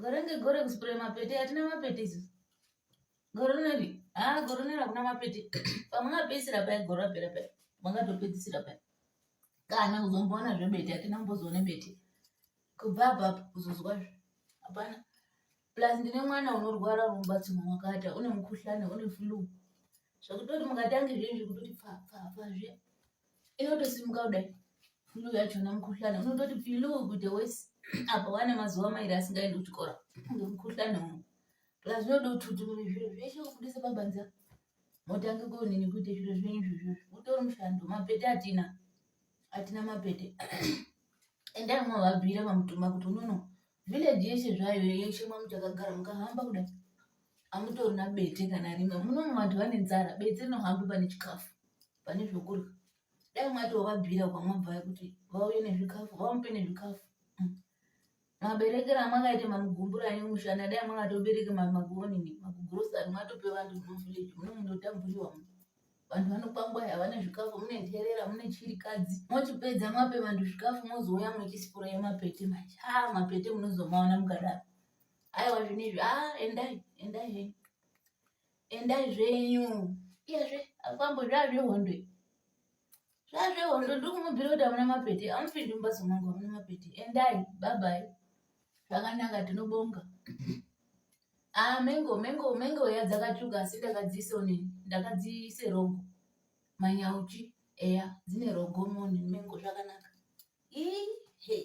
Gore ngegore kuspray mapete atina mapete isu. Gore rineri ah gore rineri hakuna mapete pamwe ngapedzisira paya gore rapera paya mangatopedzisira paya kana kuzomboona zvebete atina mbozoone bete kubva apa kuzozwa zve hapana plus ndine mwana unorwara unobatsirwa wakata une mukhuhlane une flu zvekutoti mukatanga izvezvi kutoti pfapfapfa zviya inotosimuka kudai flu yachona mukhuhlane unototi pilu kuite wesi apa wane mazuva mairi asingaendi kuchikora ngemukhuhlane uno plus zvinode kuti kuti munhu zviro zveshe kubudise pabanza motange konini kuite zviro zvenyu izvozvo utori mushando mapete atina atina mapete endai mwavabhira pamutuma kuti unono Village yeshe zvayo yeshe mamuchakagara mukahamba kuda amutorina bete kana rimwe munomu vantu vane nzara bete rinohamba pane chikafu pane zvokurya dai mwati wavabvira kwamwabvaya kuti vauye nezvikafu vamupe nezvikafu mm. maberekero amakaite mamugumbura ane mushana dai mwakatobereke magonini makugrosari mwatope vantu muvillage munomu ndotamburiwa mu vanhu vanokwangwaya havana zvikafu mune nherera mune chirikadzi mochipedza mape vanhu zvikafu mozouya muchisipura yemapete manje a ah, mapete munozomaona mukadaro aiwa zvinezvi a ah, endai endai zvenyu endai zvenyu iyezve akwambo zvaazvehondwe zvazvehondo ndiri kumubhira kuti amuna mapete amupindi mumbatso mangu amuna mapete endai babai zvakanaka tinobonga ah mengo mengo mengo ya dzakatsvuka asi ndakadziisa onini ndakadziisa rogo manyauchi eya dzine rogo moni mengo zvakanaka Ihe.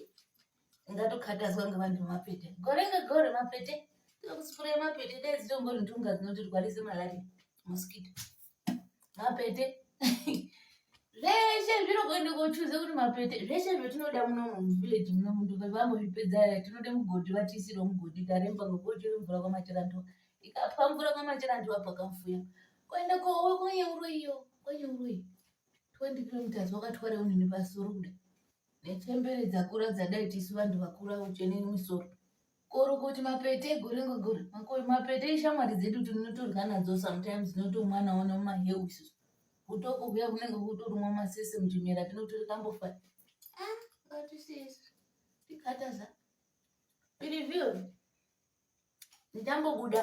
Ndatokatazwa ngevanhu vemapete. Gore ngegore mapete. Tinokusukura mapete dai dzitongori ntunga dzinotirwarisa malaria. Mosquito. Mapete. Zveshe zviro kuende kochuza kuti mapete. Zveshe zvatinoda muno muvillage muno muntu vambozvipedza aya tinoda mugodhi vatiisire mugodhi taremba ngokuti mvura kwamachirandu. Ikapwa mvura kwamachirandu apa kafuya. Kuende kowe kwenye uroyi yo. Kwenye uroyi. 20 kilometers wakatwara unini pasoro kuda nechembere dzakura dzadai tisu vanhu vakura uchene musoro korokoti mapete gore ngegore mapete ishamwari dzedu tinotorya nadzo sometimes notomwana ona mahewu isusu kutoko kuya kunenge kutorumwa masese muchimera tinotori kambofa ah, ngatisisi tikataza pirivhiyo ndichambobuda